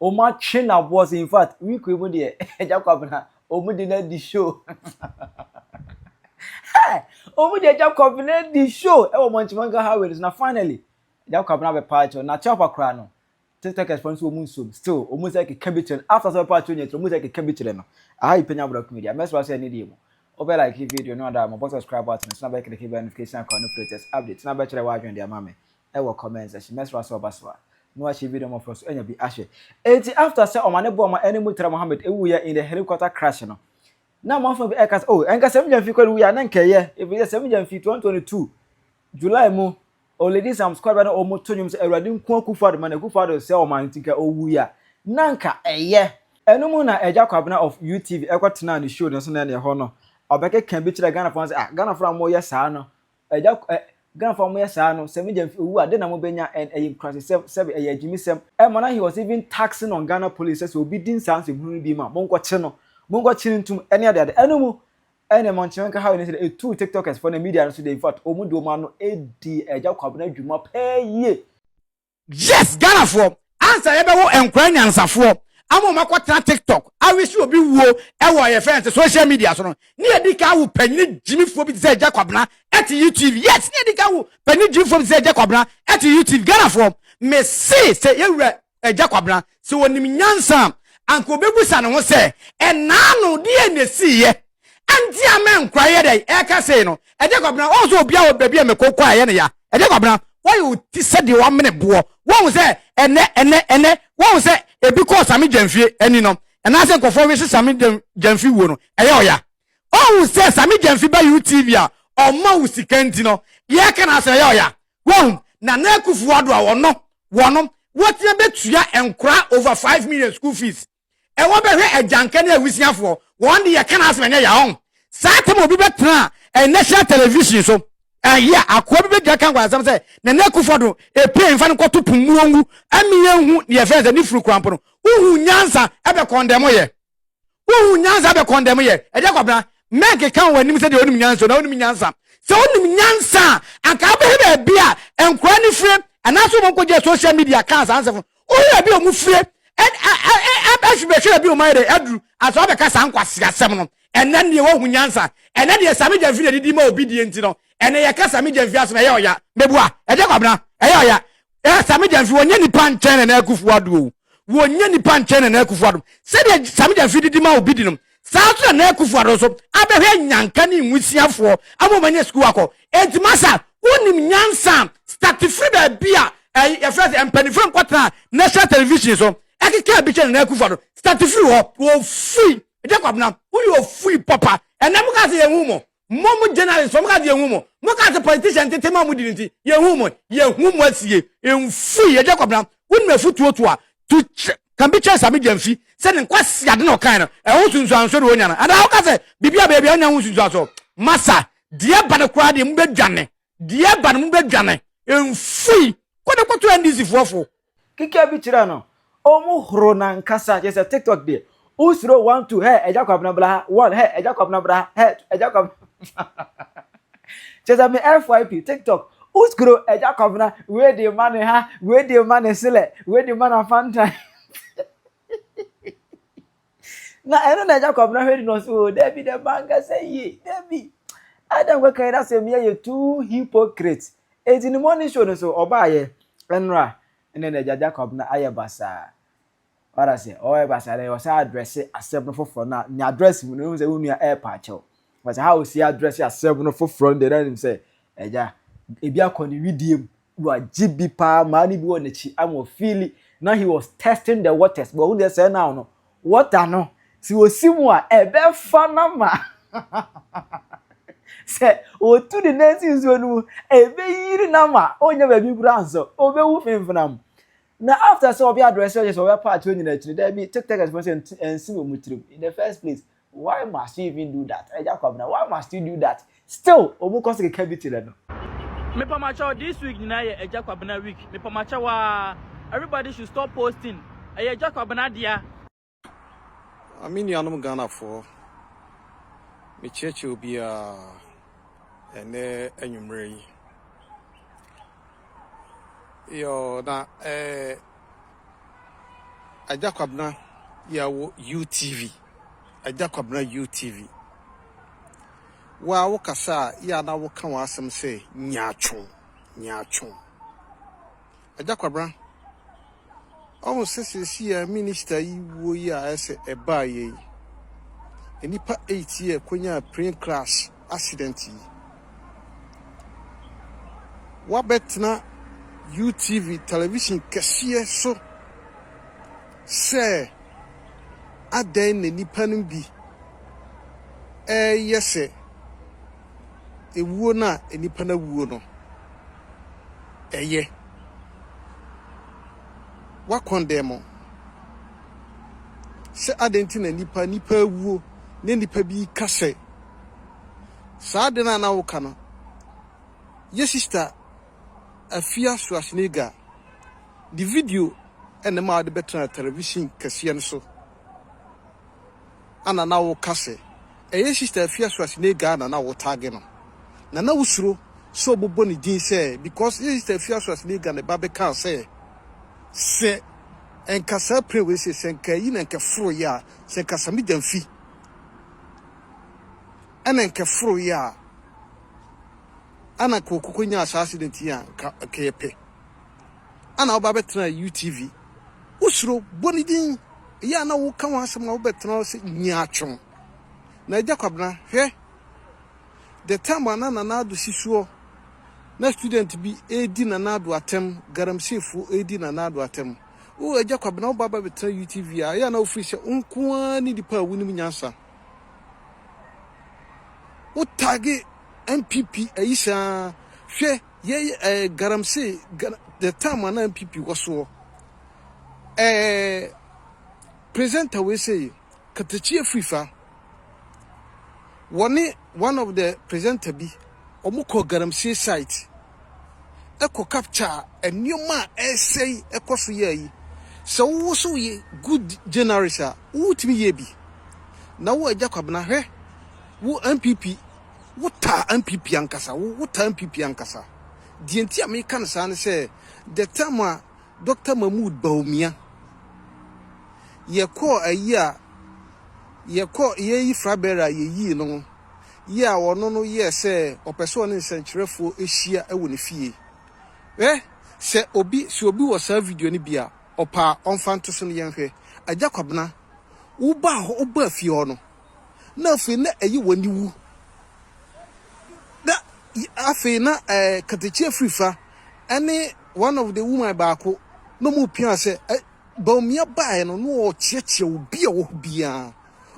Ɔmo atwe no aboɔ so infact week yi mu deɛ Agya Kwabena ɔmo de no adi show hey ɔmo de Agya Kwabena adi show ɛwɔ Mɔnkyimanka highway no so na finally Agya Kwabena abɛpa akyɛw na Kyapa koraa no TikTokers fo nso ɔmo nsuom still ɔmo sɛ keka bi kyerɛ no after sɛ ɔbɛpa akyɛw nyɛ tiri ɔmo sɛ keka bi kyerɛ no aha yi panya abura kumedi a mɛsra sɛ ɛne deɛ mu wobɛ like video no ada ma bɔ subscribe button so na bɛkiriki bɛ notification akɔ no latest update na bɛkyerɛ w'adwene de ama me wɔ comment section mɛsrɛ wo sɛ ɔba so a na wahyɛ video no mmɔfra so anya bi ahwɛ enti after sɛ ɔmane bɔɔ ma ɛne Murtala Mohammed wuiɛ in the helicopter crash no na amanfoɔ bi ɛka sɛ oh ɛnka Sami Gyamfi kɔ ne wuiɛ a na nka ɛyɛ ɛfiri sɛ Sami Gyamfi 2022 July mu Oledi Sam Squad ba na wɔn to nnwom sɛ Awurade nko Akufo Addo ma na Akufo Addo sɛ ɔman nti nka ɔwuiɛ a na nka ɛyɛ ɛno mu na Agya Kwabena of UTV ɛkɔ tenaa ne show no so na ɛne ɛhɔ no ɔbɛkeka bi kyerɛ Ghanafoɔ no sɛ ah Ghanafoɔ a moyɛ saa no Agya, ɛ, Ghanafoɔ a wɔyɛ saa no, sɛ me gya nfi owu a, dɛn na mobɛnya? Ɛ, ɛyɛ nkurasesɛm, sɛbe, ɛyɛ agyimisɛm. Ɛ, Manahe he was even taxing on Ghana police sɛ sɛ obi di nsaa nsɛmhunu no bi mu a, monkɔkye no, monkɔkye no ntom, ɛne adeade. Ɛno mu, ɛnneɛ Monkyema nka how ne sɛdeɛ etuu TikTokers foɔ ne media no so deɛ, in fact, wɔn de wɔn ano dii Agya Kwabena dwuma paa yie. Yes Ghanafoɔ ansa yɛbɛwo nkora nyansafoɔ ama wɔn akɔtena tiktok awisi obi wuo ɛwɔ yɛ fɛn sɛ social media so no ne yɛdi ka awo panyini gyimifoɔ bi te sɛ Agya Kwabena ɛte YouTube yes ne yɛdi ka awo panyini gyimifoɔ bi te sɛ Agya Kwabena ɛte YouTube Ghanafoɔ me se sɛ yɛwura Agya Kwabena sɛ wɔnim nyansa anka obebusa ne ho sɛ ɛnaa no deɛ na ɛsiiɛ ɛnti a mɛ nkura yɛ dɛ ɛka sei no ɛdeɛ kwabena wɔn sɛ obi a wɔ baabi a mɛ kɔ kɔ a yɛ ne ya ɛdeɛ kwabena wɔyɛ oti sɛ deɛ wɔamene boɔ wɔn sɛ ɛnɛ ɛnɛ ɛnɛ wɔn sɛ ebi kɔɔ sami gyɛnfie ɛni no ɛnaasɛ nkɔfoɔ wese sami gyɛnfi wuo no ɛyɛ ɔya wɔn sɛ sami gyɛnfi ba utv a ɔma wo sika nti no yɛ ka na asɛ ɛyɛ ɔya wɔn na na akufu ado a wɔn no wɔn wɔtia bɛtua nkora over five million school fees ɛwɔ bɛhwɛ agyanka ne awisiafoɔ wɔn de yɛka n'asɛm ɛnyɛ yɛ ɔn saa tam obi bɛtena a national television so ɛyɛ a akoa bi bɛgyina ka nkwansɛm sɛ nana akufo do ɛpie mfa no kɔto pumuo ngu ɛmi yɛ nhu ne yɛfɛn sɛ ne furu kurampo no wohu nyansa ɛbɛ kɔndɛm yɛ wohu nyansa ɛbɛ kɔndɛm yɛ ɛdeɛ kwabena mɛnke ka wɔn anim sɛ deɛ onim nyansa na onim nyansa sɛ onim nyansa anka abɛhɛ baabi a nkora ne fire anaasɛ wɔn nkɔgye social media kaa saa nsɛm Woyɛ bi a wɔn fie ɛhwe bɛhwe ɛbi wɔn ayɛ dɛ aduru asɔ abɛka saa nkwasi asɛm no ɛnɛ nneɛ wahu nyansa ɛnɛ deɛ sami gyamfi na didi ma obi die nti no ɛnɛ yɛ ka sami gyamfi asɛm ɛyɛ ɔya mebua ɛgye kwabena ɛyɛ ɔya ɛyɛ sami gyamfi wɔnyɛ nipa nkyɛn na na akufu ado o wɔnyɛ nipa nkyɛn na na akufu ado sɛdeɛ sami gyamfi didi ma obi di no Saa nso na Nana Akufo-Addo nso abɛhwɛ Nyanka ne Nwisiafoɔ ama wɔn anya sukuu akɔ. Enti Masa, wonim nyansa a start firi baabi a ɛy yɛfrɛ sɛ mpaninfoɔ no kɔtenaa National Television so ɛkekaa bi kyerɛ Nana Akufo-Addo. Start firi hɔ. Ofui. Jacob na woyɛ ofui papa. Ɛnɛ mo kaa sɛ yɛn hu mo. Mo mo journalist fo mo ka se yɛnhu mo. Mo ka se politician ntetema a ɔmo di no nti yɛnhu mo. Yɛhu mo asie. Mfui yɛ Jacob na wonim afutuo to a to Can be Charles Amigya mfi sɛ ne nkwaseade na ɔkae no ɛho nsunsuansoɔ na ɔnya no anaa woka sɛ biribi a baabi a ɔnya ho nsunsuansoɔ masa deɛ ba no koraa deɛ mobɛdwane deɛ ba no mobɛdwane mfui kɔ ne kɔto NDC foɔ fo Kika bi kyerɛ no, ɔmo horo nankasa, kyerɛ sɛ tiktok deɛ, wosuro one two hɛ agya kwabena bra ha one hɛ agya kwabena bra ha hɛ two agya kwabena kyerɛ sɛ me FYP tiktok wosuro agya kwabena wei deɛ ma ne ha wei deɛ ma ne selɛ wei deɛ ma na fanta na ɛno na agya kwabena hwɛ di na ɔsɛ o dabi dɛ mankasa yie dabi ada nkɔka yi dasɛ mmea yɛ too hypocrite eti ne morning show no so ɔbaayɛ ɛnora ɛnna na agya agya kwabena ayɛ basaa wada sɛ ɔyɛ basaa dɛ ɔsɛ adrɛse asɛm no foforɔ na ne adrɛse mu no ehu sɛ wo nua ɛɛpa akyɛw wɔsɛ ha osi adrɛse asɛm no foforɔ no deɛ na nim sɛ agya ebi akɔ ne widie mu Wagye bi paa maa ne bi wɔ n'akyi ama ɔfiili na he was testing the waters bɔ ɔhu deɛ sɛ now no water no sɛ ɔsi mu a ɛbɛfa na ma sɛ ɔtu ne nan si nsuo no mu ɛbɛyiri na ma ɔnyɛ baabi kura nso ɔbɛwu fimfina mu na after sɛ ɔbɛ adrɛsɛ ɔyɛ sɛ ɔbɛ paati ɔnyina akyiri daabi tiktakers fo sɛ ɛnsi wɔ mu tirim in the first place Why must you even do that Agya Kwabena why must you do that still ɔmu kɔ so keka bi kyerɛ no. Mepamakyɛw this week nyinaa yɛ Agya Kwabena week mepamakyɛw aa everybody should stop posting ɛyɛ Agya Kwabena dea. Ah me nuanom Ghanafoɔ, mekyerɛkyerɛ obiara ɛnnɛ anwummerɛ yi. Yɔɔ na eh Agya Kwabena yɛwo UTV Agya Kwabena UTV Woa wo kasa a yɛ a na wo ka w'asɛm sɛ nyaatwo nyaatwo Agya Kwabena Ɔhu sɛ sɛsi yɛ minister yi wuo yi a ɛsɛ ɛbaa yɛ yi nnipa 8 yɛ kɔnyaa plane crash accident yi. Woabɛtena UTV television kɛseɛ so sɛ adɛn na nnipa no bi ɛreyɛ sɛ ewuo no a nnipa no awuo no ɛyɛ. Woakɔndɛn mo sɛ adɛn nti na nnipa nnipa awuo na nnipa bi reka sɛ Saa ade no a na woka no, yɛ sista Afia Suasniga de video na ɛmaa ɔde bɛtenaa television kɛseɛ no so. Ana na woka sɛ ɛyɛ sista Afia Suasniga na na wo tag no, na na wosuro sɛ ɔbɛbɔ ne din sɛ because yɛ sista Afia Suasniga ne ba bɛkaa sɛ sɛ nka saa plane wei sɛ sɛ nka ayi na nka ɛforo yɛ a sɛ nka Samida mfi Ɛna nkɛ foro yi a ana kɔkɔ kɔ nyaa saa accident yi a nka nkɛ yɛ pɛ ana ɔba bɛ tena UTV wo suro bɔ ne din yɛ ana wo ka ho asɛm a wo bɛ tena ɔsɛ nyi atwom na agya kwabena hwɛ the time ana nana ado si suɔ na student bi ɛdi nana ado atɛm garamsey fo ɛdi nana ado atɛm Oh Agya Kwabena wo ba ba bɛtena UTV a ɛyɛ a na wo firi sɛ wo nko ara ne nipa a wo nim nyansa. Wo tagi NPP ayi saa hwɛ yɛ eh, garamsey the time ana NPP wɔ soɔ. Eh, presenter wei sɛ yi katakyi afiri fa. Wɔne one of the presenter bi wɔn kɔ garamsey site. kɔ capture a nneɛma a ɛresɛe kɔ so yɛ yi. Sɛ wo nso woyɛ good journalist a, wotumi yɛ bi. Na wo Agya Kwabena, hwɛ, wo NPP, wotaa NPP ankasa, wo wotaa NPP ankasa. Deɛ nti a meka no saa ne sɛ, the time a Dr. Mahmood Bawumia yɛkɔɔ ayi a yɛkɔɔ yɛyi flag bearer a yɛyii no, yi a ɔno no yɛɛ sɛ ɔpɛ sɛ ɔne nsɛnkyerɛfoɔ hyia wɔ ne fie. Hwɛ, sɛ obi, sɛ obi wɔ saa video no bi a, ɔpɛ a, ɔmfa nto so na yɛnhwɛ. Agya Kwabena, wobaa hɔ, wobaa fie hɔ no, na afei na ɛyɛ w'aniwu. Na afei na eh, Katakyi Afirifa ne one of the woman baako na wɔpia sɛ eh, Bawumia baeɛ no na ɔrekyeakyea obi a ɔwɔ hɔ biara.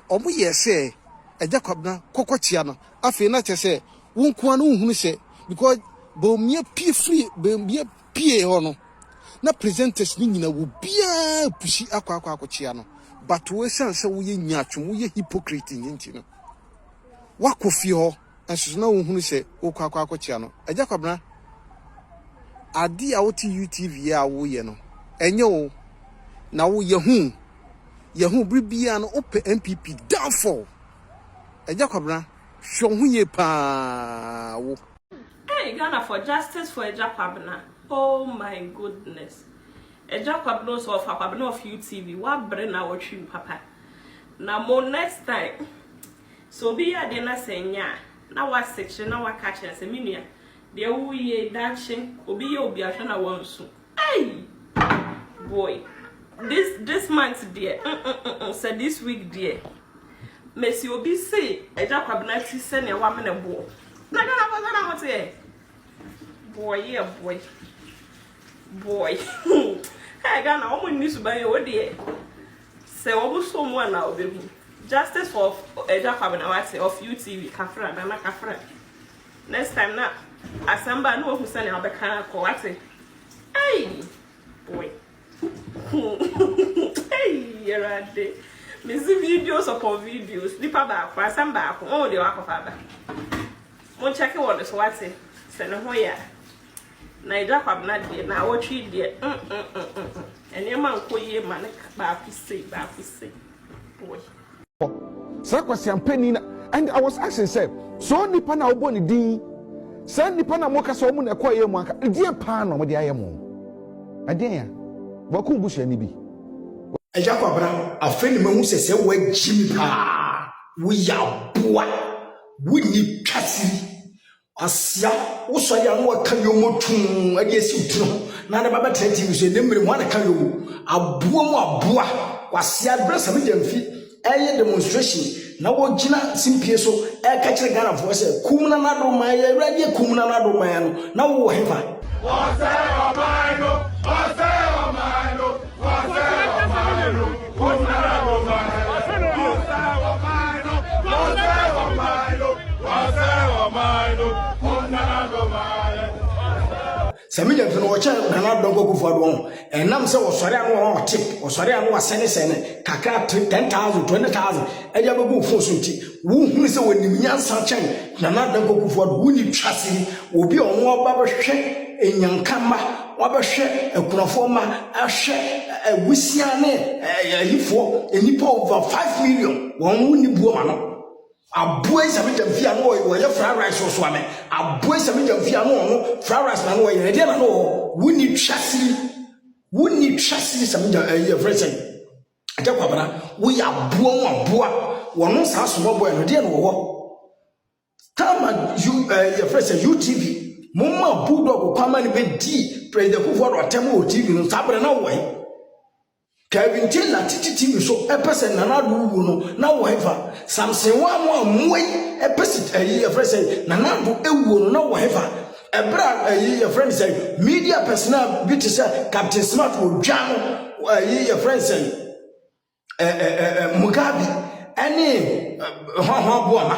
Wɔyɛɛ sɛ Agya Kwabena kɔkɔkyea no. Afei na kyerɛ sɛ wo nko ara na wohunu sɛ because Bawumia pue firi Bawumia pue hɔ no na presenters no nyinaa obiara repusi akɔ akɔ akɔkyea no but wo esiane sɛ woyɛ nyaatwom woyɛ hypocrite nti no woakɔ fie hɔ. Nsoso na wonhunu sɛ wokɔ akɔ akɔkyea no. Agya Kwabena, adeɛ a wote UTV yi a woyɛ no, ɛnyɛ wo na wo yɛhu, yɛhu bere biara no wopɛ NPP downfall. Agya Kwabena, hwɛ wo ho yie paa wo. Ei Ghanafoɔ justice for Agya Kwabena oh my goodness Agya Kwabena o sɛ wɔfa Kwabena of UTV woabrɛ na wɔtwe mu papa na mo next time. Sɛ obi yɛ adeɛ na sɛ ɛnyɛ a, na w'asekyerɛ na w'aka akyerɛ no sɛ, me nua, deɛ wo yɛ yi daakye obi yɛ obi ahwɛ na w'ansu. Ei! Boy! This this month deɛ mm-mm-mm-mm, sɛ this week deɛ, mesi obi se Agya Kwabena ti sɛnea w'amene boɔ. Na Ghana foɔ sɛ na mo teɛ? Boy yɛ boy. Boy. Hey Ghana, wɔn nni suban yɛ, wo deɛ. Sɛ wɔbosoo mu a na wɔbɛhu. Justice for Agya Kwabena wate of UTV Kafra Nana Kafra next time na asɛm ba a na wahu sɛnea ɔbɛka akɔ wate ei boy huu ei Awurade mesi videos upon videos nipa baako asɛm baako wɔn deɛ wakɔfa aba mo nkyɛke wɔ ne so wate sɛ ne ho yɛ a Na Agya Kwabena deɛ, naawɔtwe yi deɛ, mm-mm-mm-mm, nneɛma nkɔ yie mma no ka, baako sei, baako sei, boy. Saa kwaseampani no, and I was asking sɛ, saa onipa no a wobɔ ne din yi, saa nnipa no a moka sɛ wɔn na ɛkɔɔ yɛn mu anka, ɛdeɛn paa na wɔde ayɛ mo? Ɛdeɛn a? Boakum busuani bi? Agya Kwabena, afei na mahu sɛ sɛ woagye me paa, woyɛ aboa, wonni twasiri, Asia, wo sɔre a na wɔka yomo tum de asi wo tiri ho na ne ba bɛtena tv so ɛne mmere mu a na ka yomo aboa mu aboa kwasia berɛ sɛ media mfi ɛyɛ demonstration na wɔgyina simpie so ɛka kyerɛ ghanafoɔ sɛ kum na nado man yɛ awurade yɛ kum na nado man no na wowɔ hefa Ɔsɛe ɔman no! Ɔsɛe ɔman no! sɛ menya mfe no wɔkyɛ nana adɔ nkɔkufoɔ adoɔ ho ɛnam sɛ wɔsɔre ano wɔn ɔte wɔsɔre ano wɔasɛne sɛne kakra 10000 20000 ɛde abɛgu wo fon so nti Wohunu sɛ wɔnim nyansa kyɛn Nana Dankwa Kufuor, wonni twaseɛ, obi a ɔno ɔba bɛhwɛ Anyanka mma, wabɛhwɛ akunafoɔ mma, ahwɛ awusiaa ne ayifoɔ, nnipa over 5 million, wɔn wonni buo ma no. Aboa Isame Gyamfi a na ɔyɛ fried rice wɔ so ame, aboa Isame Gyamfi a na ɔno fried rice na na ɔyɛ, ɛdeɛ na na ɔwɔ, wonni twaseɛ, wonni twaseɛ Isame Gyamfi, ɛyɛ frɛ sɛn? Agya Kwabena, woyɛ aboa mu aboa. Wɔno saa soma boy no, deɛ na wɔwɔ. Tama U, eh, yɛfrɛ sɛ UTV. Momma Bulldog kwama no bɛdii President Kufuor atɛm wɔ TV no, saa berɛ na wɔwɔ he? Kevin Taylor titi TV so ɛpɛ sɛ Nana Addo wu no, na wɔwɔ hefa? Samson Wammo a mmoa yi ɛpɛ si ɛyi yɛfrɛ sɛ Nana Addo ewuo no, na wɔwɔ hefa? Ɛberɛ a ɛyi yɛfrɛ no sɛn media personnel bi te sɛ Captain Smart wɔ dwa no ɛyi yɛfrɛ no sɛn Mugabe ɛne hɔnhɔn aboama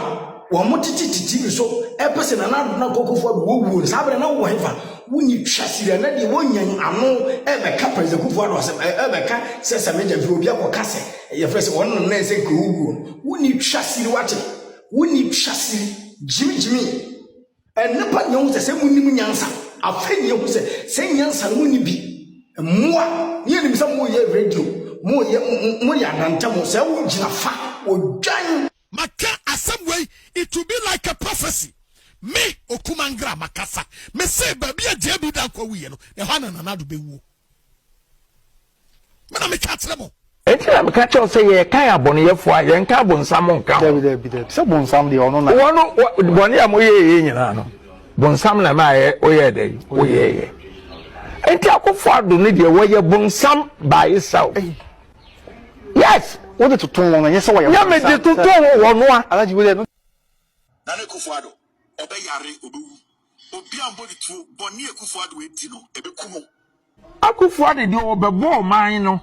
wɔn mo tete titi bi so ɛpɛ sɛ Nana Adona Kɔkɔfo Ado wɔwuo no saa berɛ na wowɔ hefa wonni twa siri ɛnɛ deɛ wɔnya ano ɛbɛka President Kɔkɔfo Ado asɛm ɛbɛka sɛ sɛ media mfiri obi akɔka sɛ yɛfrɛ sɛ wɔn nana sɛ nka owuo no wonni twa siri wate wonni twa siri gyimi gyimi Ɛnna pa nea ohu sɛ sɛ munim nyansa. Afei nea ohu sɛ sɛ nyansa no munni bi. Mmoa, ne yɛnim sɛ moyɛ radio, moyɛ, moyɛ adantam, sɛ wogyina fa, wodwan. Maka asɛm wei, it will be like a prophecy. Me, Okumangraa, makasa. Mese baabi a JB Danko awuiɛ no, ɛhɔ a na Nana Addo bɛwuo. me na meka kyerɛ mo nti na meka kyɛw sɛ yɛkan abɔneyɛfoɔ a yɛnka abonsam nka ho sɛ bonsam deɛ ɔno na wɔno bɔne a moyɛɛyɛ nyinaa no bonsam na maayɛ woyɛɛ dɛ woyɛɛyɛ nti akofo ado no deɛ wɔyɛ bonsam baayesa o yes wode toto wɔn ɛnyɛ sɛ wɔyɛ bonsam nyɛ mede toto wɔn a na ne kofo ado ɔbɛyare ɔbɛwu Obia mbɔ ne tuo. Bɔne a Kufuor Addo adi no, ɛbɛku no. Akuffo Addo deɛ ɔbɛbɔ ɔman no.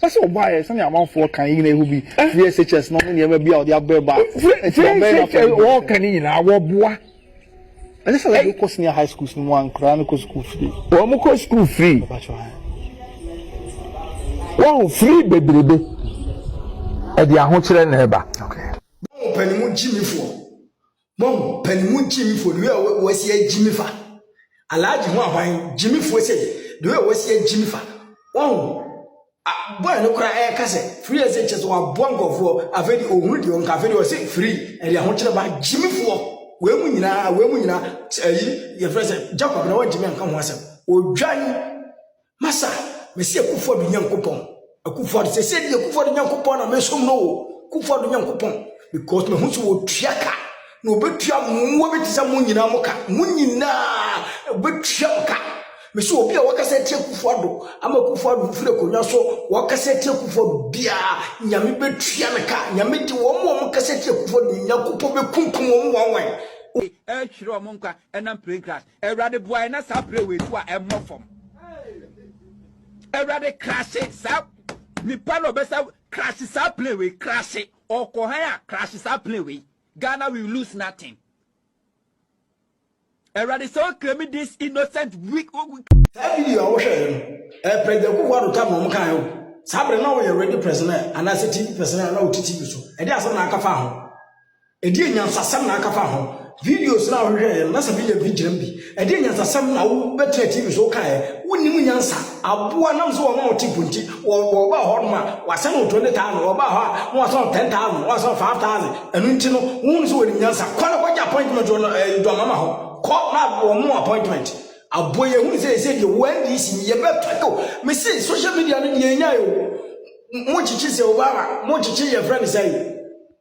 Ɛsɛ sɛ ɔbɔ ayɛ sɛnea amanfoɔ kan yina ɛhɔ bi firi SHS no ne nneɛma bi a ɔde abrɛ ba nti wɔn bɛyɛ no afɔdie. Firi SHS ɔɔka no nyinaa wɔboa. Ɛsɛ sɛ ɔde kɔ senior high schools no mu a nkoraa no kɔ sukuu free. Wɔn kɔ sukuu free. Wahu free bebrebe ɛde ahokyerɛ na ɛba. Bɔ mo panimu gyimifoɔ. Mom pɛn mu gyimi fo the way a wɔasi agyimi fa Alhaji ho ahwan gyimi fo sɛ the way a wɔasi agyimi fa wɔn a boy no kora ɛka sɛ free ɛsɛ kyɛ sɛ waboa nkɔfoɔ afei de ɔhunu deɛ ɔnka afei de ɔsɛ free ɛde ahokyerɛ ba gyimi foɔ wei mu nyinaa wei mu nyinaa ɛyi yɛfrɛ sɛ Jacob na wɔn gyimi anka ho asɛm odwan Masa, mese Akufo Addo Nyankopɔn, Akufo Addo, sɛ sɛ di Akufo Addo Nyankopɔn na mesom no o, Akufo Addo Nyankopɔn, because mahu sɛ wɔtua ka, na wɔbɛtua mmoa bi te sɛ mo nyinaa mo ka, mo nyinaa wɔbɛtua mo ka. Mese obi a wɔkasa atia Akufo Addo, ama Akufo Addo firi akonnwa so, wɔkasa atia Akufo Addo biara, Nyame bɛtua no ka, Nyame de wɔn a wɔkasa atia Akufo Addo no, Nyankopɔn bɛkunkum wɔn wɔn wɔn. Ɛretwerɛ wɔn nkwa ɛnam plain grass. Awurade boae na saa berɛ wei so a ɛmmɔ fam. Awurade krahye saa nipa na ɔbɛsa krahye saa plane wei krahye ɔkɔ han a krahye saa plane wei Ghana will lose nothing. Awurade sɛ ɔkrami this innocent weak. Saa video a wohwɛ yɛ no, eh, President Kufu Ado tam na wɔn kan yɛ Saa bere na wɔyɛ radio personnel anaasɛ TV personnel na wɔte TV so. Ɛde asɛm na aka fa ho. Ɛdeɛn nyansasɛm na anka fa ho? Videos no a wohwehwɛeɛ no, na sɛ menya bi gyina mu bi. Ɛdeɛn nyansasɛm na wobɛtena TV so wokaeɛ? Wonnim nyansa. Aboa nam sɛ wɔma wɔte mpo nti, wɔbaa hɔ nom a, wɔasan wo 20,000, wɔbaa hɔ a, na wɔasan wo 10,000, na wɔasan wo 5,000. Ɛno nti no, wohunu sɛ wɔnim nyansa. Kɔ na kɔgye appointment wɔ Dwamama hɔ. Kɔ na wɔma wo appointment. Aboa yi, ɛhunu sɛ ɛsɛ deɛ wo NDC no yɛbɛtɔ yo. Mese social media no deɛ ɛnyae o. Mokyekye sɛ Obama, mokyekye yɛfrɛ no sɛn?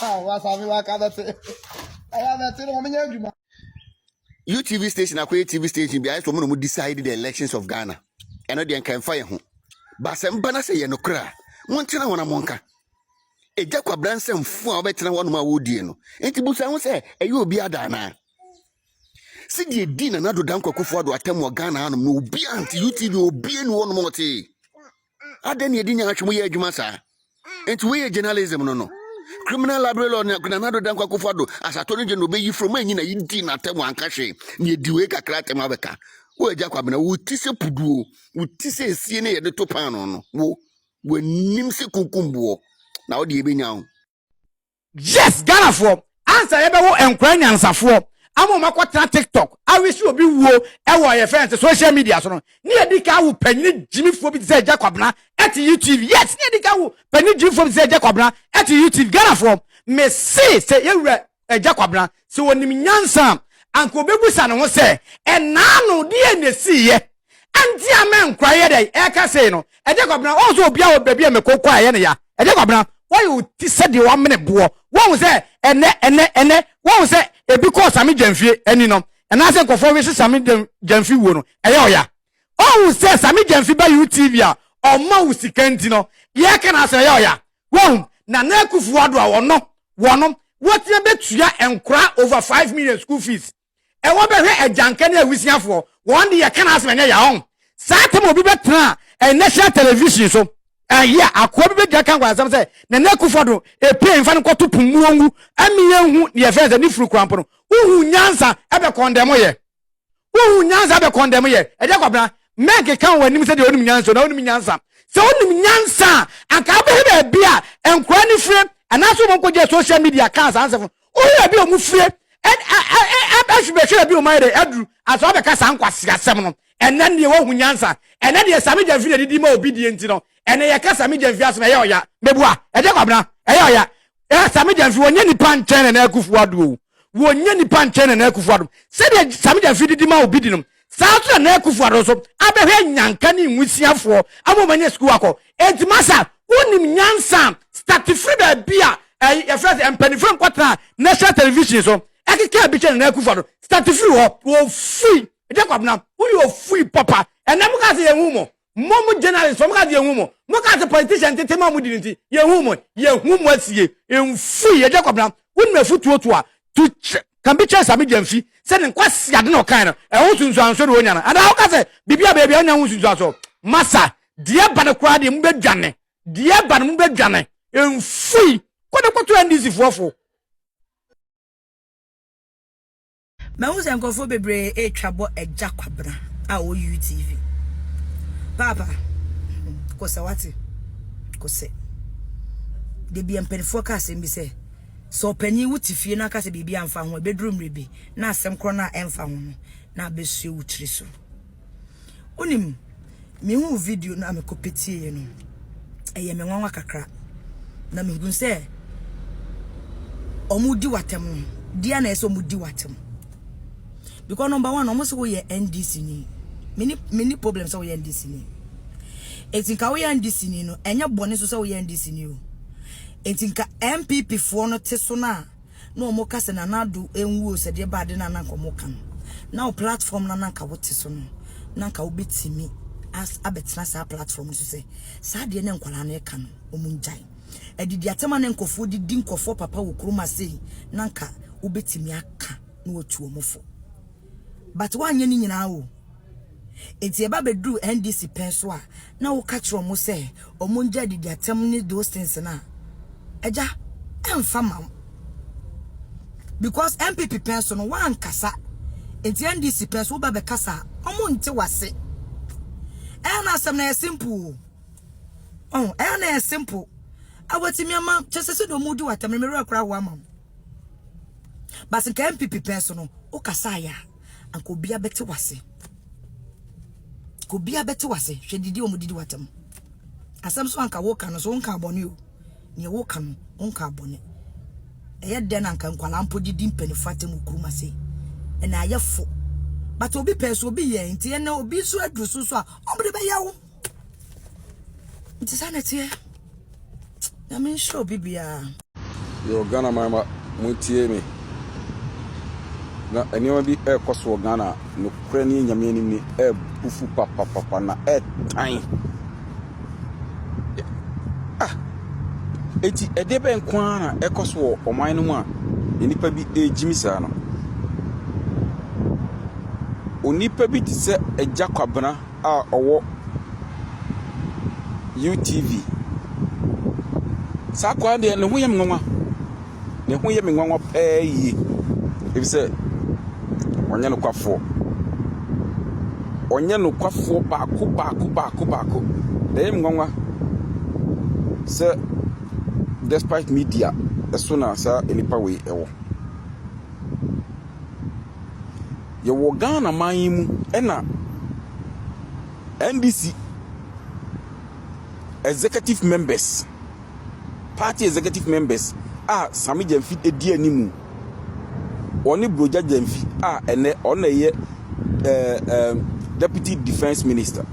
Ah, wasa mi waka bɛte. Ɛyɛ bɛte no wɔn nyɛ adwuma. UTV station akɔyɛ TV station bi ayɛ sɛ wɔn na wɔn decide the elections of Ghana. Ɛno deɛ nka nfa yɛn ho. Basɛm ba na sɛ yɛ no kora a, montena hɔ na monka. Egya kwabra nsɛm fo a wɔbɛtena hɔ nom a wɔredie no. Nti busa ho sɛ ɛyɛ obi ada anaa? Si deɛ di na nado dankwa kufu ado atam wɔ Ghana hanom no obi ante UTV obi ani hɔ nom ɔtee. adɛn na ɛdi nyaatwe mu yɛ adwuma saa nti woyɛ journalism no no criminal library law nana do dankwa kofa do asato no gye no ɔbɛyi from anyi na yɛdi n'atɛm anka hwee na yɛdi wei kakra atɛm abɛka wo agya kwabena wo ti sɛ puduo wo ti sɛ esie ne yɛde to paano no wo w'anim sɛ kunkumboɔ na wode yɛbɛnya wo Yes Ghanafoɔ ansa yɛbɛwo nkora nyansafoɔ ama wɔn akɔtena tiktok awisi obi wuo ɛwɔ yɛ fɛn sɛ social media so no ne yɛdi ka awo panyini gyimifoɔ bi te sɛ Agya Kwabena ɛte YouTube yes ne yɛdi ka awo panyini gyimifoɔ bi te sɛ Agya Kwabena ɛte YouTube Ghanafoɔ mese sɛ yɛwura Agya Kwabena, sɛ ɔnim nyansa a, anka ɔbɛbisa ne ho sɛ, ɛnna ano deɛn na ɛsiiɛ a nti a me nkora yɛ dɛn ɛreka sei no? Agya Kwabena, woahu sɛ obiara wɔ baabi a meko kɔ a ɛyɛ no ya? Agya Kwabena, woayɛ wo ti sɛ deɛ wɔamene boɔ, woahu sɛ ɛnnɛ, ɛnnɛ, ɛnnɛ, woahu sɛ ɛbi kɔɔ Same Gyamfie ani no, anaasɛ nkurɔfoɔ wese Same Gyamfi wuo no, ɛyɛ wo ya? Wahu sɛ Sammy Gyamfi ba UTV a ɔmma wo sika nti no, yɛka no ara sɛ ɔyɛ ɔya. Wahu? Nana Akuffo Addo a ɔno, wɔno, wɔtena bɛtua nkora over five million school fees. Ɛwɔ bɛhwɛ agyanka ne awisiafoɔ, wɔn de yɛka no ara sɛ ɛnyɛ ya. Wahu? Saa tam a obi bɛtena a national television so a yea, akoa bi bɛgyina ka nkwansɛm sɛ Nana Akuffo Addo ɛpue mfa no nkɔto po mmu ɔnwu ɛme yɛnhu deɛ yɛfrɛ no sɛ ne furu kora mpo no. Wohu nyansa ɛbɛ kɔndɛmo yɛ. wohu nyansa bɛ kɔndɛm yɛ ɛdɛ kwabena mɛnke kan wɔ anim sɛ deɛ onim nyansa na onim nyansa sɛ onim nyansa anka abɛhɛ baabi a nkora ne fire anaasɛ wɔn nkɔgye social media kaa saa nsɛm wohu ebi wɔn fire ɛhwehwɛ ebi wɔn ayɛ dɛ aduru asɔ abɛka saa nkwasi asɛm no ɛnɛ deɛ wohu nyansa ɛnɛ deɛ sami gyɛnfi na didi ma obi die nti no ɛnɛ yɛ ka sami gyɛnfi asɛm ɛyɛ ɔya mɛbua ɛdɛ kwabena ɛyɛ ɔya Eh, Sami Gyamfi, wɔnyɛ nipa nkyɛn na n'akufo ado o. Wɔnyɛ nipa nkyɛn na n'akufo ado. Sɛdeɛ Sami Gyamfi didi ma obi di no, saa nso na n'akufo ado nso abɛhwɛ nyanka ne nwisiafoɔ ama wɔn anya sukuu akɔ. Enti masa, wonim nyansa a, starte firi baabi a ɛyi yɛfrɛ sɛ mpanimfoɔ nkɔtena national television so ɛkeka ebi kyɛ na n'akufo ado. Starte firi hɔ. Ofui. Jacob na woyɛ ofui papa. Ɛnɛ mo kaa sɛ yɛn hu mo. Mo mo journalist fo mo ka se yɛnhu mo. Mo ka se politician ntetema a ɔmo di no nti yɛnhu mo. Yɛhu mo asie. Mfui yɛ Jacob na wonim afutuo to a to ka bi kyerɛ Sami Gyamfi sɛ ne nkwaseade na ɔkae no ɛho nsunsuansoɔ na ɔnya no anaa woka sɛ biribi a bɛyɛ biara ɔnya ho nsunsuansoɔ masa deɛ ɛba no koraa deɛ mo bɛ dwane deɛ ɛba no mo bɛ dwane mfui kɔ ne kɔto NDC foɔ fo Mahu sɛ nkurɔfoɔ bebree retwa bɔ Agya Kwabena a ɔwɔ UTV. Paapa, kɔ sɛ wate, kɔ sɛ. Da bi mpanimfoɔ ka asɛm bi sɛ, sɛ ɔpanin wo te fie na aka sɛ biribi amfa ho a, ɛbɛduru mmerɛ bi na asɛm korɔ no a ɛmfa ho no na abɛsue wo tiri so. wonim mehu video no a mekɔpɛ tieɛ no ɛyɛ me nwanwa kakra na mehunu sɛ ɔmo di watam no deɛ na ɛsɛ ɔmo di watam because number one ɔmo sɛ woyɛ ndc ni mini mini problem sɛ woyɛ ndc ni eti nka woyɛ ndc ni no ɛnyɛ bɔne so sɛ woyɛ ndc ni o eti nka mpp foɔ no te so no a na ɔmo ka sɛ Nana Addo nwu o sɛ deɛ ɛba ade no a na nka ɔmo ka no na wo platform no a na nka wo te so no na nka wo bɛtumi abɛtena saa platform no so sɛ saa deɛ na nkwadaa no ɛka no ɔmo ngyae adidi atɛm a na nkɔfoɔ didi nkɔfoɔ papa wɔ kurom asei na nka wo bɛtumi aka na watu ɔmo fo but woanyɛ ne nyinaa o Enti ɛba bɛduru NDC pɛn so a, na woka kyerɛ wɔn sɛ wɔn ngya adidi atɛm ne those things no a, agya, ɛmfa ma wo. Because NPP pɛn so no, woankasa. Enti NDC pɛn so, woba bɛkasa a, wɔn nte wo ase. Ɛyɛ na asɛm no yɛ simple o. Ɔho, ɛyɛ na yɛ simple. Awatimi ama, kyɛ sɛ sɛ deɛ wɔn di wo atɛm no, me werɛ kora ho ama wo. But nka NPP pɛn so no, wokasa ayɛ a. anka obiara bɛte wase obiara bɛte wase hwɛ didi wɔn didi watam asɛm so anka woka no so wonka abɔne o nea woka no wonka abɔne ɛyɛ dɛn na anka nkwadaa mpo de di mpanimfoɔ atam okuruma se ɛna ayɛ fo but obi pɛɛ so obi yɛ nti ɛna obi nso aduru so so a wɔn de bɛyɛ wo nti saa na ɛteɛ nyame nhyɛ obi biara yo ghana man ma montie me na nneɛma bi ɛrekɔ so wɔ ghana nokorɛ ne nyame anim ne ɛrebufu papapapa na ɛretan ah eti ɛde bɛn nko ara na ɛkɔ so wɔ ɔman no mu a nnipa bi ɛregyimi saa no onipa bi te sɛ agya kwabena a ɔwɔ UTV. Saa akoa deɛ ne ho yɛ me nwanwa. Ne ho yɛ me nwanwa paa yie. Ɛfiri sɛ ɔnyɛ nokwafoɔ. Ɔnyɛ nokwafoɔ baako baako baako baako. Ɛyɛ me nwanwa sɛ despite media ɛso na saa nnipa wei ɛwɔ. Yɛwɔ Ghana man yi mu na NDC executive members, party executive members a Same Gyamfi di anim. Ɔne Brogya Gyamfi a ɛnɛ ɔno na ɛyɛ eh, eh, deputy defense minister.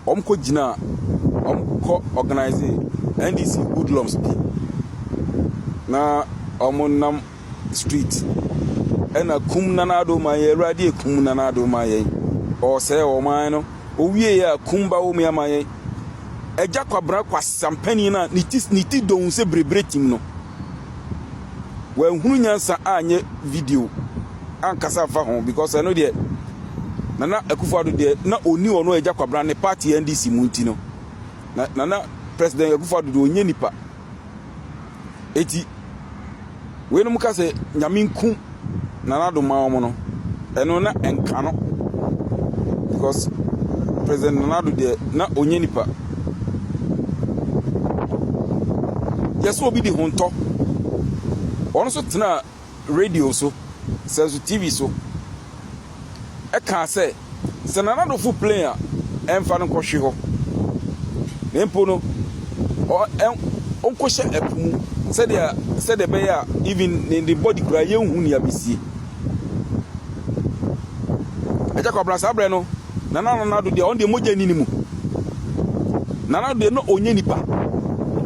Wɔn kɔ gyina, wɔn kɔ organize NDC hoodlums bi na wɔn nam street ɛna kum nana ado ma yɛn awurade ekum nana ado ma yɛn ɔsɛe ɔman no owie yɛ a kum ba wɔn ama yɛn ɛgya kwabena kwasampanin na ne ti ne ti dɔn sɛ berebere tim no wɔahunu nyansa anyɛ video ankasa nfa ho because ɛno deɛ nana akufo ado deɛ na oni ɔno ɛgya kwabena ne party ndc mu nti no na nana president akufo ado deɛ onye nipa. Eti weinom ka sɛ Nyame nku Nana Addo mma wɔn no, ɛno na ɛnka no because President Nana Addo deɛ na ɔnyɛ nipa. Yɛsɛ obi di ho ntɔ. Wɔn nso tenaa radio so, sɛ nso TV so, ɛkaa sɛ, sɛ Nana Adofo plane a, ɛmfa no nkɔhwe hɔ, na mpo no, ɔ, ɛ, ɔnkɔhyɛ ɛpo mu, sɛdeɛ, sɛdeɛ ɛbɛyɛ a, even ne, ne body koraa, yɛnhu nea bɛsie. Agya Kwabena, saa berɛ no, Nana Nana Addo deɛ ɔno deɛ mogya nni ne mu. Nana Addo deɛ na ɔnyɛ nipa.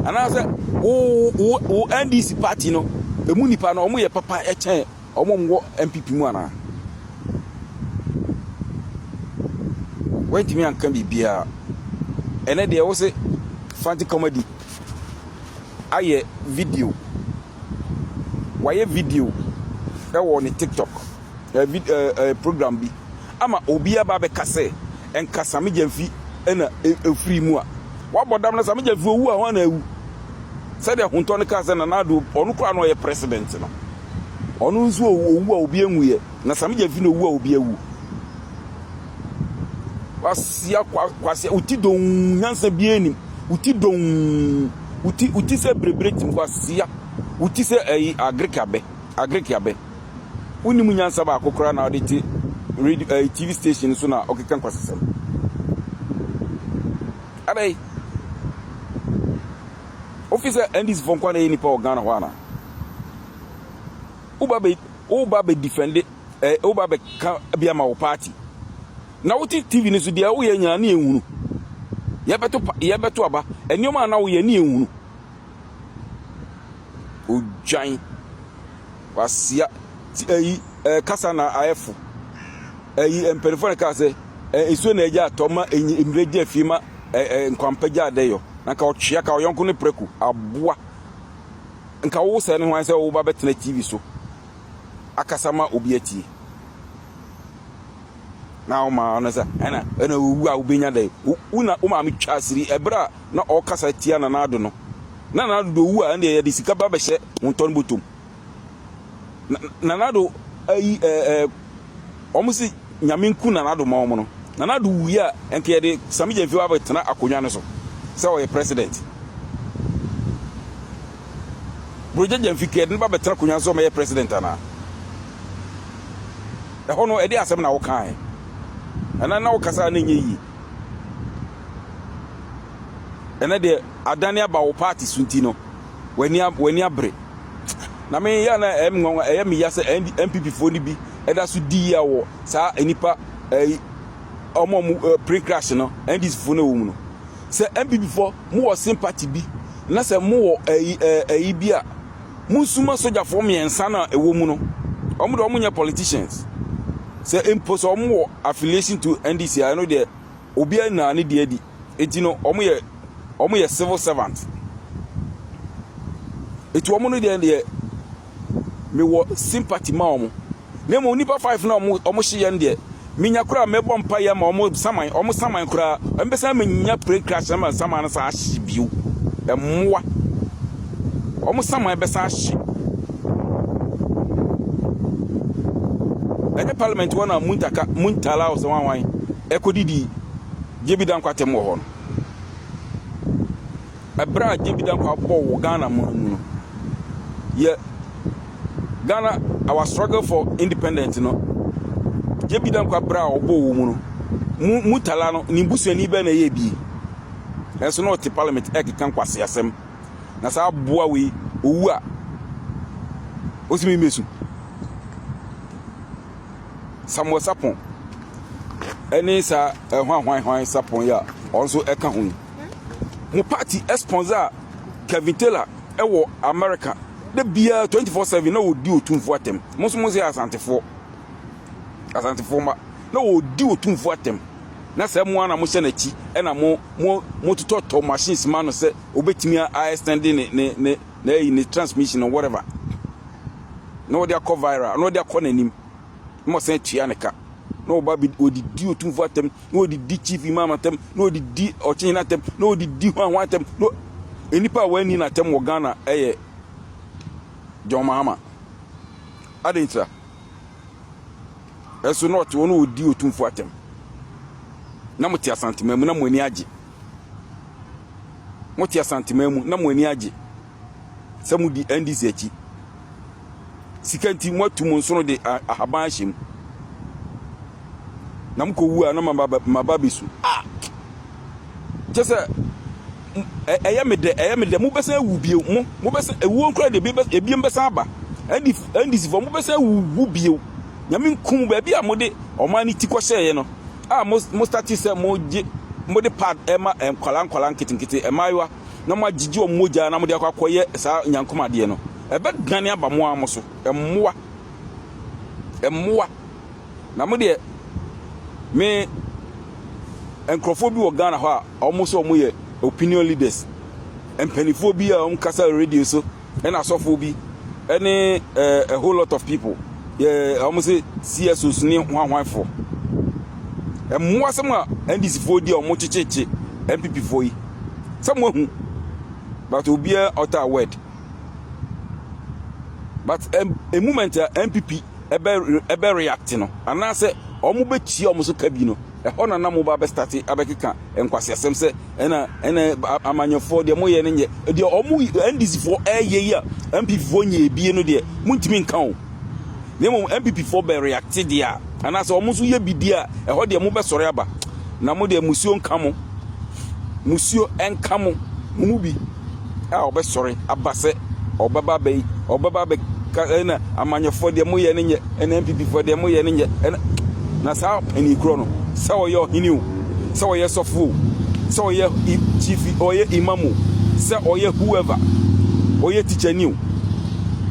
Anaasɛ wo wo wo NDC party no emu nipa no wɔn yɛ papa kyɛn wɔn wɔn wɔ NPP mu anaa? Wɔntumi anka biribiara. Ɛnɛ deɛ wose Fanti Comedy ayɛ video. wayɛ video wɔ ne TikTok ɛ vid ɛ ɛ program bi ama obi aba abɛka sɛ nka Same Gyamfi na ɛfiri mu a. Wabɔ dam na Same Gyamfi owu a hwan na awu? Sɛdeɛ Hontɔ no kaa sɛ Nana Addo ɔno koraa na ɔyɛ president no. Ɔno nso owu a obi nwuiɛ na Same Gyamfi na owu a obi awu. Kwasia kwa kwasia wo ti dɔnn nyansa biara nim wo ti dɔnn wo ti wo ti sɛ berebere tim kwasia wo ti sɛ ɛyi agric abɛ agric abɛ wonim nyansa baako koraa na ɔde te radio ɛyi tv station so na ɔkeka nkwasasɛm adai wofi sɛ ndc fo nkwa na yɛ nipa wɔ ghana hɔ ana woba bɛ woba bɛ defende ɛ woba bɛka bi ama wo party na wote tv no so deɛ woyɛ nyinaa ne yɛnhunu yɛbɛto yɛbɛto aba nneɛma a na woyɛ ne yɛnhunu odwan wasia ti ayi ɛ kasa na ayɛfo ayi mpanimfoɔ na kaa sɛ ɛ nsuo na agya atɔ ma mmerɛ gya fie ma ɛ ɛ nkwampa gya adɛyɔ na ka ɔtwea ka ɔyɔnko ne prɛko aboa nka wo sɛ ne ho ayɛ sɛ woba bɛtena tv so akasa ma obi atie na wo maa no sɛ ɛna ɛna owu a wobɛnya dɛ wo na wo maame twa asiri ɛberɛ a na ɔkasa tia nana ado no na nana ado owu a ɛndeɛ yɛde sika ba bɛhyɛ wo ntɔn bɔtɔm nana ado ayi ɛɛ wɔn se Nyame nku Nana Addo ma wɔn no, Nana Addo wuiɛ a, ɛnka yɛde Sammy Gyamfi aba abɛtena akonnwa no so sɛ ɔyɛ President. Brogya Gyamfi, nka yɛde no ba abɛtena akonnwa no so sɛ ɔmɛyɛ President anaa? Ɛhɔ no, ɛdeɛ asɛm na wokaeɛ? Ɛnɛ na wokasa a na ɛnyɛ yie. Ɛnɛ deɛ adane aba wo party so nti no, w'ani a w'ani abere na me yɛ na ɛyɛ me nwanwa ɛyɛ me ya sɛ npp foɔ no bi ɛda so di yia wɔ saa nnipa ɛyi wɔn a wɔn plane crash no ndc foɔ no ɛwɔ mu no sɛ npp foɔ mo wɔ sympathy bi na sɛ mo wɔ ɛyi ɛyi bi a mo nsuma sogyafoɔ mmiɛnsa na ɛwɔ mu no wɔn de wɔn nyɛ politicians sɛ mpo sɛ wɔn wɔ affiliation to ndc a ɛno deɛ obiara nyinaa ne deɛ di. eti no wɔn yɛ wɔn yɛ civil servant eti wɔn no deɛ deɛ mewɔ sympathy ma wɔn na mmom nipa five na wɔn wɔn hye yɛn deɛ menya koraa mɛbɔ mpa yɛ ma wɔn saman wɔn saman koraa mpɛsɛn menya plane crash na ma saman no san ahye bio mmoa wɔn saman bɛsan ahye ɛnyɛ parliament wɔn na muntaka muntala ɔsɛ wɔn awan ɛkɔ didi. Gyebida Nkwa tem wɔ hɔ no, ɛberɛ a Gyebida Nkwa bɔɔ wɔ Ghana mu no mu no, yɛ Ghana, our struggle for independence no, Gyebida Nkwa berɛ a ɔbɔɔ wɔ mu no, mu Mutala no, ne busuani bɛn na ɛyɛ bi? Ɛnso na ɔte parliament ɛkeka nkwasi asɛm, na saa aboa wei, owu a, ɔsimi mesu. Samuel Sarpong ne saa ɛhwanhwanhwan Sarpong yi a ɔno nso ɛka ho yi mo party sponsor a Kevin Taylor wɔ America da biara 24/7 na ɔdi otumfoɔ atɛm mo nso mo sɛ asantefoɔ asantefoɔ ma na ɔdi otumfoɔ atɛm na sɛ mo ana mo hyɛ n'akyi ɛna mo mo mo totɔtɔ machines ma no sɛ obetumi a extend ne ne ne na ayi ne transmission no whatever na wɔde akɔ viral na wɔde akɔ n'anim na wɔsan atua ne ka na wɔba bi wɔdidi otumfo atam na wɔdidi chief imam atam na wɔdidi ɔkyenyina atam na wɔdidi ho ahoa atam na nnipa a wɔanni n'atam wɔ ghana ɛyɛ john mahama adɛn ntira ɛso na ɔte hɔ na wɔdi otumfo atam na mote asantema mu na mo ani agye Mote Asanteman mu na mo ani agye sɛ modi NDC akyi. Sika nti moatu mo nsono de ahaban ahyɛ mu. Na mokɔwu a na maba bɛsu. Ah! Kyɛ sɛ ɛyɛ me dɛ ɛyɛ me dɛ mobɛsan awu bio mo mobɛsan ewuo nkora de ebiem bɛsan aba. NDC fo mobɛsan awu wu bio. Nyame nkum baabi a mode ɔman ne ti kɔhyɛeɛ no. a mo mo start sɛ mo gye mo de pad ɛma nkwadaa nkwadaa nketenkete mmaayewa na mo agyegye wɔn mogya na mo de akɔ akɔyɛ saa nyankom adeɛ no ɛbɛ dane aba mo ara mo so mmoa mmoa na mo deɛ me nkurɔfoɔ bi wɔ Ghana hɔ a wɔn sɛ wɔn yɛ opinion leaders mpanimfoɔ bi a wɔn kasa radio so. ɛna asɔfoɔ bi ɛne ɛɛ a whole lot of people yɛ wɔn se csos ne hwanhwanfoɔ mmoa sɛm a ndc foɔ di a wɔn kyekyekye npp foɔ yi sɛm wahu but obiara ɔta a word but a moment a npp ɛbɛ ɛbɛ react no anaasɛ wɔn bɛtua wɔn so ka bi no. Ɛhɔ na na mo ba bɛ start abɛkeka nkwaseasɛm sɛ ɛna ɛna amanyɔfoɔ deɛ mo yɛ no nyɛ deɛ ɔmo NDC foɔ ɛyɛ yi a NPP foɔ nyɛ ebie no deɛ mo ntumi nka o na mmom NPP foɔ bɛ react deɛ a anaasɛ ɔmo nso yɛ bibi a ɛhɔ deɛ mo bɛ sɔre aba na mo deɛ musuo nka mo musuo nka mo mo mu bi. a ɔbɛsɔre aba sɛ ɔbɛba abɛyi ɔbɛba abɛka ɛna amanyɔfoɔ deɛ moyɛ no nyɛ ɛna nppfoɔ deɛ moyɛ no nyɛ ɛna na saa ɛni korɔ no sɛ ɔyɛ ɔhene o sɛ ɔyɛ sɔfo o sɛ ɔyɛ chief ɔyɛ imam o sɛ ɔyɛ whoever ɔyɛ teacher ni o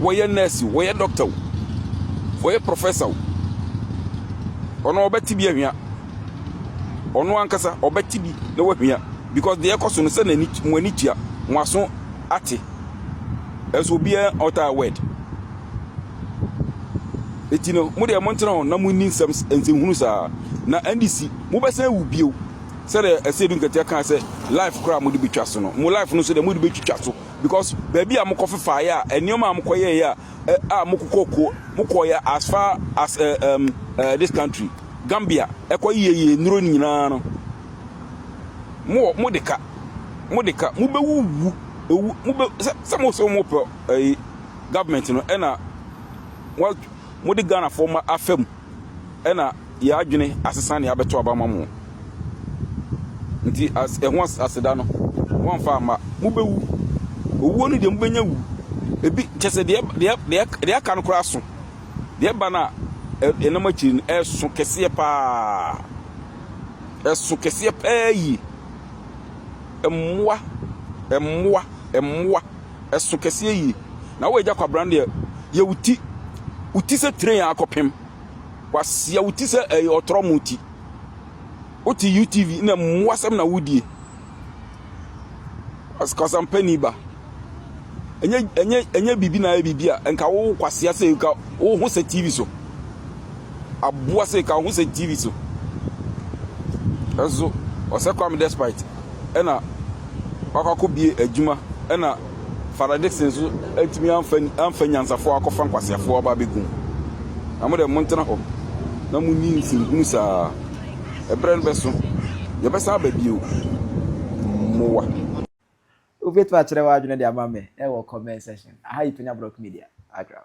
wɔyɛ nurse o wɔyɛ doctor o wɔyɛ professor o ɔno ɔbɛte bi ahwia. ɔno ankasa ɔbɛte bi na wahia because deɛ ɛkɔ so no sɛ n'ani mo ani tua mo aso ate ɛso obiara ɔtaa word eti no mo deɛ mo ntena hɔ na mo nni nsɛm nsɛnhunu saa na ndc mo bɛsɛn wu bio sɛdeɛ ɛsɛ edu nketewa kan sɛ life koraa mo de betwa so no mo life no so deɛ mo de betwitwa so because baabi a mo kɔ fefa yɛ a nneɛma a mo kɔ yɛ yɛ a a mo kɔ kɔ mo kɔ yɛ as far as uh, um, uh, this country. Gambia ɛkɔ yie yie nnuro nyinaa no mo mo de ka mo de ka mo bɛ wuwu ewu mo bɛ sɛ sɛ mo sɛ mo pɛ ɛyi government no ɛna wa mo de Ghana fo ma afɛ mu ɛna yɛ adwene asesa ne abɛto aba ma mo nti as ɛho aseda no wɔn fa ama mo bɛ wu owuo no deɛ mo bɛ nya wu ebi kyɛ sɛ deɛ deɛ deɛ deɛ aka no koraa so. Deɛ ɛba no a, ɛnam akyiri no, ɛso kɛseɛ paa. Ɛso kɛseɛ paa yie. Mmoa, mmoa, mmoa. Ɛso kɛseɛ yie. Na woagya kwabena no deɛ, yɛ wo ti. Wo ti sɛ train a akɔpem. Wasia wo ti sɛ ɛyɛ ɔtorɔmo ti. Wote UTV na mmoasɛm na wodie. kasampani ba. Ɛnyɛ ɛnyɛ ɛnyɛ biribi na ayɛ biribi a nka wo kwasea sɛ nka wo ho sɛ TV so. Aboa sɛ nka wo ho sɛ TV so. Ɛso ɔsɛ Kwame Despite ɛna wakɔ akɔbie adwuma ɛna Father Dixon so ɛntumi amfa amfa nyansafoɔ akɔfa nkwaseafoɔ aba abɛgu mu. Na mo deɛ montena hɔ na monni nsɛnhunu saa. Ɛberɛ no bɛso, yɛbɛsan aba bio. Mmoa. Wobɛtumi akyerɛ w'adwene de ama me wɔ comment section. Aha yɛ Penya Block Media, Agram.